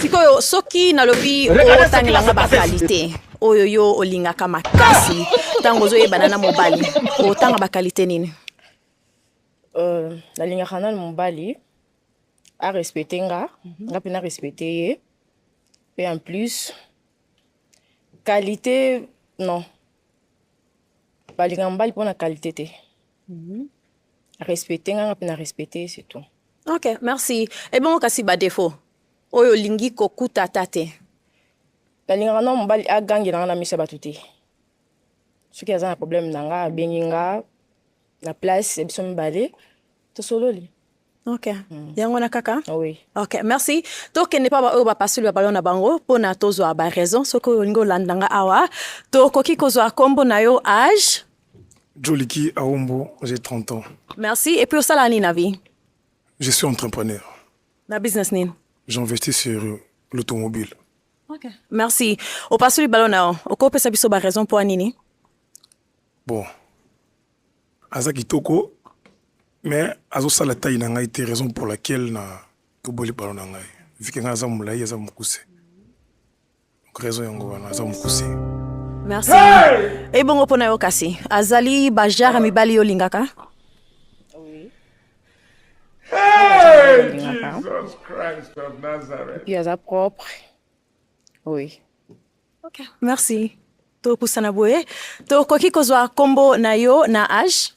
sikoyo soki nalobi otangelanga bakalite oyo yo olingaka makasi ntango ozoyebana na mobali otanga bakalite nini euh, nalingaka nanu mobali arespecte nga mhm. nga mpe narespecte ye mpe en plus kalite non balingaka mobali mpo na kalite te Mhm. respecte nga nga mpe na respecte ye surtout ok merci ebongo kasi badefaut oyo olingi kokuta ata te nalingaka na mobali agangela nga na miso ya bato te soki aza na problème na nga abengi nga na place ya biso mibale tosololi ok mm. yango wana kaka oui. ok merci tokende mpa baoyo bapasoli babalon na bango mpo na tozwa baraison soki olingi olanda nga awa tokoki kozwa nkombo na yo age joliki aombo j'ai 30 ans merci et puis osala nini na vie je suis entrepreneur na business nini j'investis sur l'automobile okay. merci opasoli balon na yo okopesa biso baraison mpo ya nini bon aza kitoko mais azosala taille na ngai te raison pour laquelle na toboli balo na ngai vike ngai aza molai aza mokuse donc raison yango wana aza mokuse merci hey! ebongo mpo na yo kasi azali bajare mibali yo olingaka Hey, Jesus Christ of Nazareth. Puis, aza propre. Oui. Okay, merci. Topusana boye. Tokoki kozwa kombo na yo na age?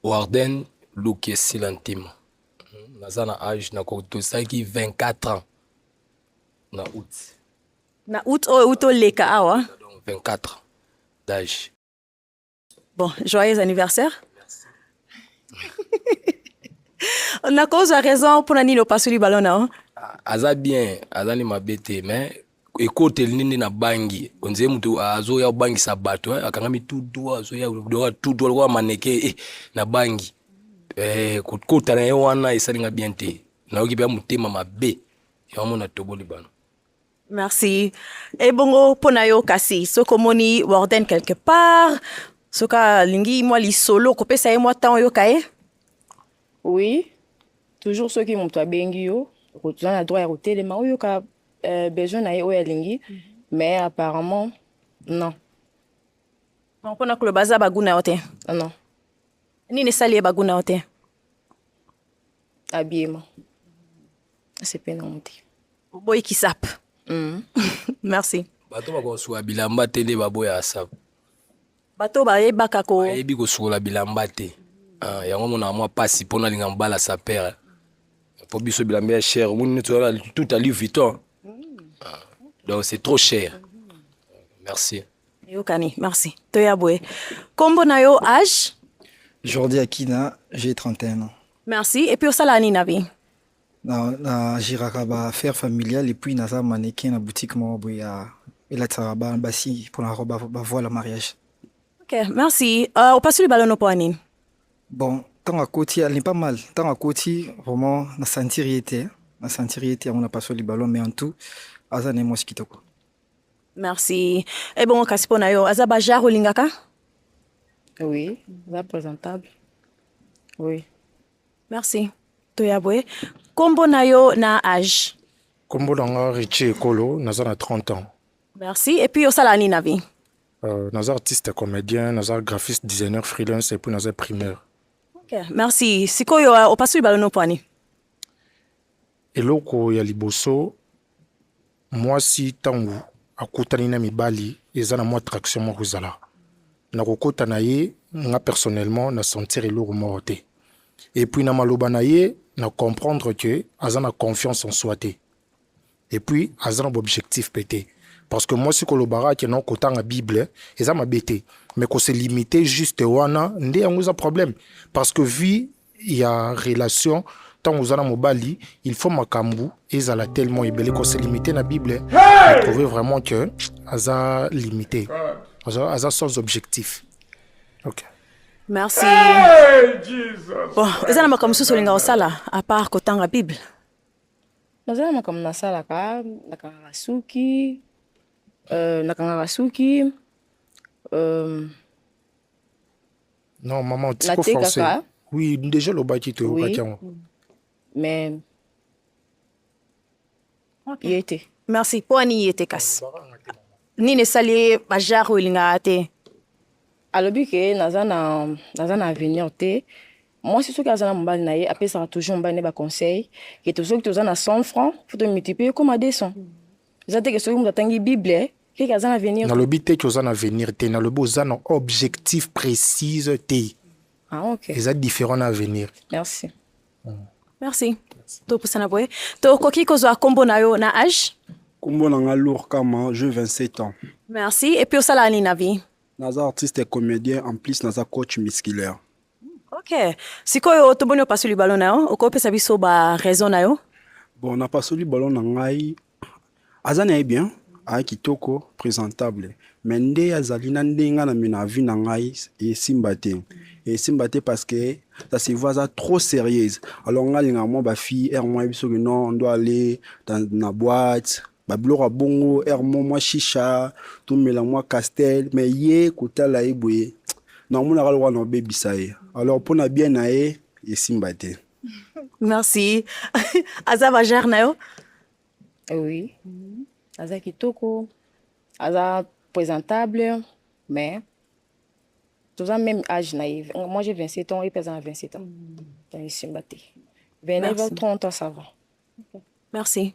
Warden Lukesila Ntema. Naza na age na kotosaki 24 ans na août. Na août oyo oh, août oleka awa. 24 d'âge. bon joyeux anniversaire nakozwa raison mpona nini opasoli balo na yo aza bien aza ni mabe te mais ekoteli nini na bangi onzee moto azoya obangisa bato eh, akangami tudu azoya doka tudu lokola maneke eh, na bangi eh, kokota na ye wana esalinga bien te nayoki mpe motema mabe yango mona toboli bano Merci. Ebongo mpo na yo kasi soki omoni Warden quelque part soki alingi mwa lisolo kopesa ye mwa temps oyoka ye oui toujours soki moto abengi yo oza na droit ya kotelema oyoka euh, besoin na ye oyo alingi mhm. mais apparemment non donc mpo na koloba aza baguna yo te non nini esali ye baguna yo te abiema asepe nango te oboyi kisap mm. merci bato bakosuka bilamba te nde baboya asap bato bayebaka ko bayebi kosukola bilamba te ah, yango monaka mwa mpasi mpo nalinga mobala sapere mpo biso bilamba ya cher omoni neti tout à louis vuitton ah, donc c'est trop cher merci Eyokani, merci. Toya boye. Kombo na yo âge? Jordi Akina, j'ai 31 ans. Merci. Et puis osala nini na vie? Na na jiraka ba affaires familiales et puis naza mannequin na boutique moko boye ya elatisaka ba basi mpo na ba, ba voile mariage. Ok, merci. Uh, opasuli balono mpo ya nini? Bon, ntango akoti ali pas mal. Ntango akoti vraiment na sentir ye te. Na sentir ye te yango napasoli ballon mais en tout aza na ye mwasi kitoko. Merci. Et bon, kasi pona yo, aza bajar olingaka? Oui, aza présentable. Oui. Merci. Toya boye. Kombo na yo na âge? Kombo na nga Richie Ekolo, naza na 30 ans. Merci. Et puis osala nini na vie? Euh, naza artiste comédien, naza graphiste, designer freelance et puis naza primaire. Okay. Merci. Sikoyo euh, opasuli balono pwani? Eloko ya liboso mwasi ntango akutani na mibali eza na mwa attraction moko ezala na kokota na ye nga personnellement na sentir eloko moko te et puis na maloba na ye na comprendre que aza na confiance en soi te et puis aza na objectif pe te parce que mwasi kolobaka ke na kotanga bible eza mabe te mais kose limite juste wana nde yango eza problème parce que vie ya relation ntango oza na mobali il faut makambo ezala tellement ebele ko se limite na bible hey! trouve vraiment que aza limité aza, aza sans objectif ok merci hey, Jesus. bon eza na makambo mosusu olinga kosala apart kotanga bible naza na makambo nasalaka nakangaka suki euh, nakangaka suki euh, Non, maman, tu peux forcer. Oui, déjà le baki te oui. Mais okay. yete. Merci. Pour ani yete kas. Ni ne sali bajar ou linga te. Alobi ke naza na naza na avenir te. Moi, c'est ce que azana mobali na ye, après ça toujours mobali ba conseil. Que tous ceux qui ont 100 francs, faut te multiplier comme à 200. Zate que ceux qui ont tangi Bible, Keke aza na avenir. Nalobi te que oza na avenir te, nalobi oza na objectif précise te. Ah OK. Eza différent na avenir. Merci. Mm. Merci. Topusana boye. Tokoki kozwa kombo na yo na âge? Kombo na nga Lourd Kama, je 27 ans. Merci. Et puis osala nini na vie? Naza artiste et comédien, en plus naza coach musculaire. OK. Sikoyo toboni opasoli ballon na yo, okopesa biso ba raison na yo? Bon, napasoli ballon na ngai aza na ye bien aya kitoko presentable me nde azali na ndenge na mina avi na ngai esimba te esimba te parce que ça se voit aza trop sérieuse alors ngai alingaka mwa bafille ere mwa yebi soki non ndo ale na boite babiloko ya bongo ere mo mwa shisha tomela mwa castel me ye kotala ye boye naomonaka lokola na obebisa ye alors mpo na bien na ye esimba te merci aza bajare na yo oui aza kitoko aza présentable mais toza même âge na ye moi j'ai 27 ans ye mpe aza na 27 ans donc esimba te 29 30 ans ça va Merci.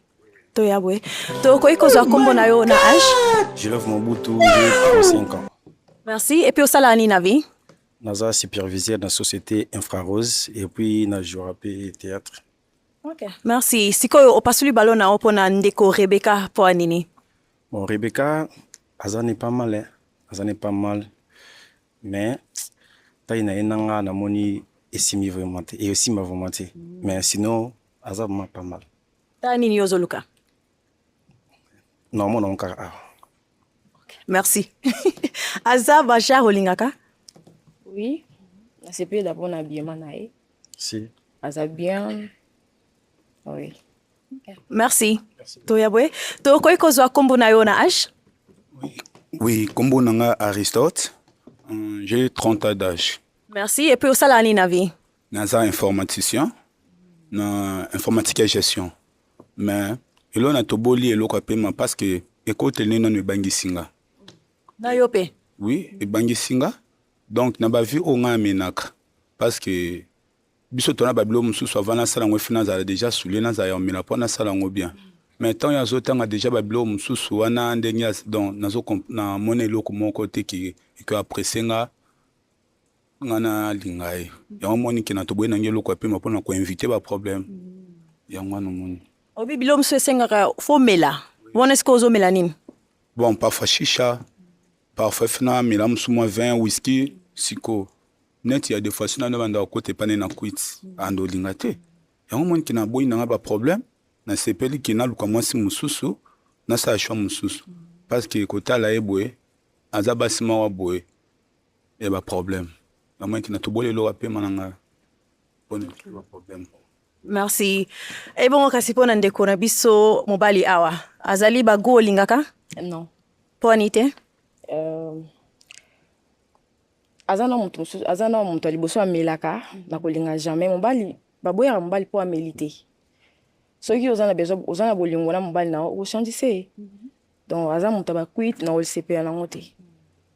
Toya boye. Tokoki kozwa kombo na yo na âge? Je love Mobutu, j'ai 35 ans. Merci. Et puis osala nini na vie? Naza superviseur na société Infrarose et puis na joueur pe théâtre. Okay. Merci. Sikoyo opasuli ballon na yo pona ndeko Rebecca po nini? Bon, Rebecca aza ne pas mal, hein. aza ne pas mal. Mais taille na ye nanga namoni esimi vraiment te. Et aussi ma vraiment te. Mais sinon aza vraiment pas mal ta nini yo ozoluka naomona ngo kaka awa merci aza bashar olingaka oui nasepela mpona habillement na ye si aza bien oui merci toya boye tokoki kozwa nkombo na yo na age oui nkombo na nga aristote euh, j'ai 30 ans d'âge merci epuis osalaka nini na vie naza informaticien na informatique ya gestion mais elo na toboli eloko ya pema parce que ekoteli nde nano ebangisi nga na yo mpe oui ebangisi nga donc na bavie oyo ngai amenaka parce que biso tona babilo mosusu avant nasala yango efi nazala déjà soule nazala ya omela mpo nasala yango bien mais ntango azotanga déjà babilo mosusu wana ndenge donc namona eloko moko te ki ekoapresse nga nga na linga ye yango moni kena toboyi nange eloko ya pema mpona koinvite baproblème yango wana omoni obi bilo mosusu esengaka fomela wana esika ozomela nini bon parfois shisha parfois fina mela mosusu mwa vin whisky siko neti ya defois sina nde bandaka kota epane na kwiti ando olinga te yango moni kena aboyi nanga baproblème nasepeli ke naluka mwasi mosusu nasala shwa mosusu parce que kotala ye boye aza basi mawa boye ya ba problème na mwenki na toboli eloka pema na ngai mpo na ba problème merci ebongo kasi mpo na ndeko na biso mobali awa azali bagu olingaka non mpo ani te euh, aza na moto mosusu aza na moto ya liboso amelaka na kolinga jamais mobali baboyaka mobali mpo ameli te soki oza na besoin oza na bolingo na mobali na yo okochange se mm -hmm. donc aza moto ya bakuite na olisepela nango te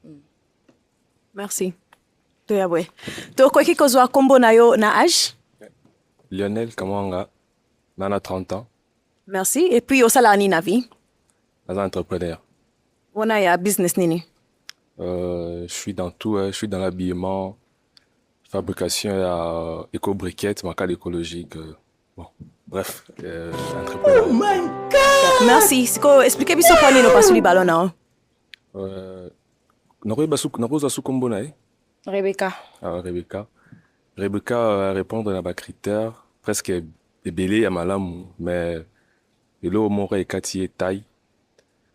hmm. merci toya boye tokoki kozwa nkombo na yo na age lionel kamwanga na na 30 ans merci et puis osalaka nini na vie naza entrepreneur wana ya business nini euh, je suis dans tout hein. je suis dans l'habillement fabrication ya euh, éco briquette makala écologique euh. Bon, bref, euh, Oh my god! Merci. Siko, expliquez biso kwa nini opasuli ballon na yo. Euh, nakoyeba suku nakozwa suku kombo na ye. Rebecca. Ah, Rebecca. Rebecca euh, répondre na ba critères presque ebele ya malamu mais eloko moko ekati ye taille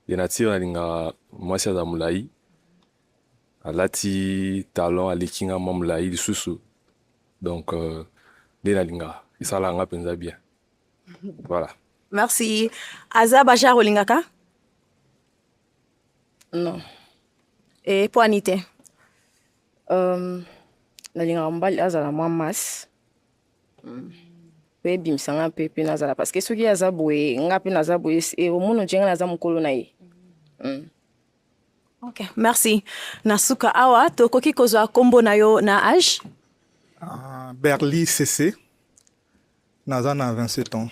ya nature nalingaka mwasi aza molai Alati talon aleki nga mwa molayi lisusu donc euh, nde euh, nalingaka esalaka nga mpenza bien voilà merci aza bashar olingaka non e eh, poani te um, nalingaka mobali azala mwa masse mm. mpe ebimisa nga mpe mpe nazala parce que soki aza boye nga mpe naza boye omona nce nga naza mokolo na ye mm. Okay, merci. Na suka awa tokoki kozwa kombo na yo na age? Uh, Berly CC. Naza na 27 ans.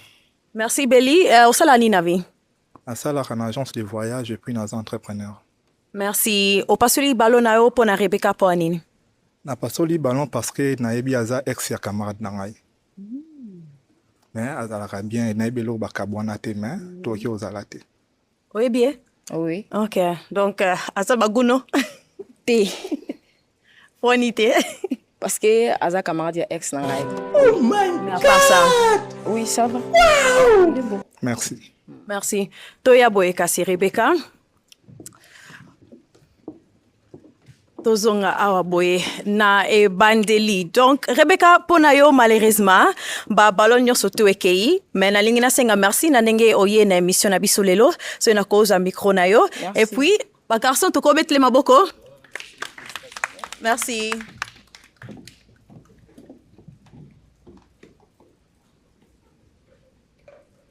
Merci Belly. Uh, osala nini na vie? Nasalaka na agence de voyage et puis naza entrepreneur. Merci. Opasoli ballon na yo mpo na Rebecca mpo nini? Napasoli ballon parce que nayebi aza ex ya camarade na ngai. Mm. Mais azalaka bien nayebi eloko bakabwana te mais mm. tokoki ozala te. oyebi ye oui ok donc euh, aza baguno te foni te parce que aza camarade ya ex na ngai oh my god ça. oui ça va wow. merci merci toya boye kasi rebeka tozonga awa boye na ebandeli donc rebeka mpo na yo malheureusement babalone nyonso to ekei mai nalingi nasenga merci na ndenge oye na émission na biso lelo soki nakozwa micro na yo et puis bagarçon tokobetele maboko merci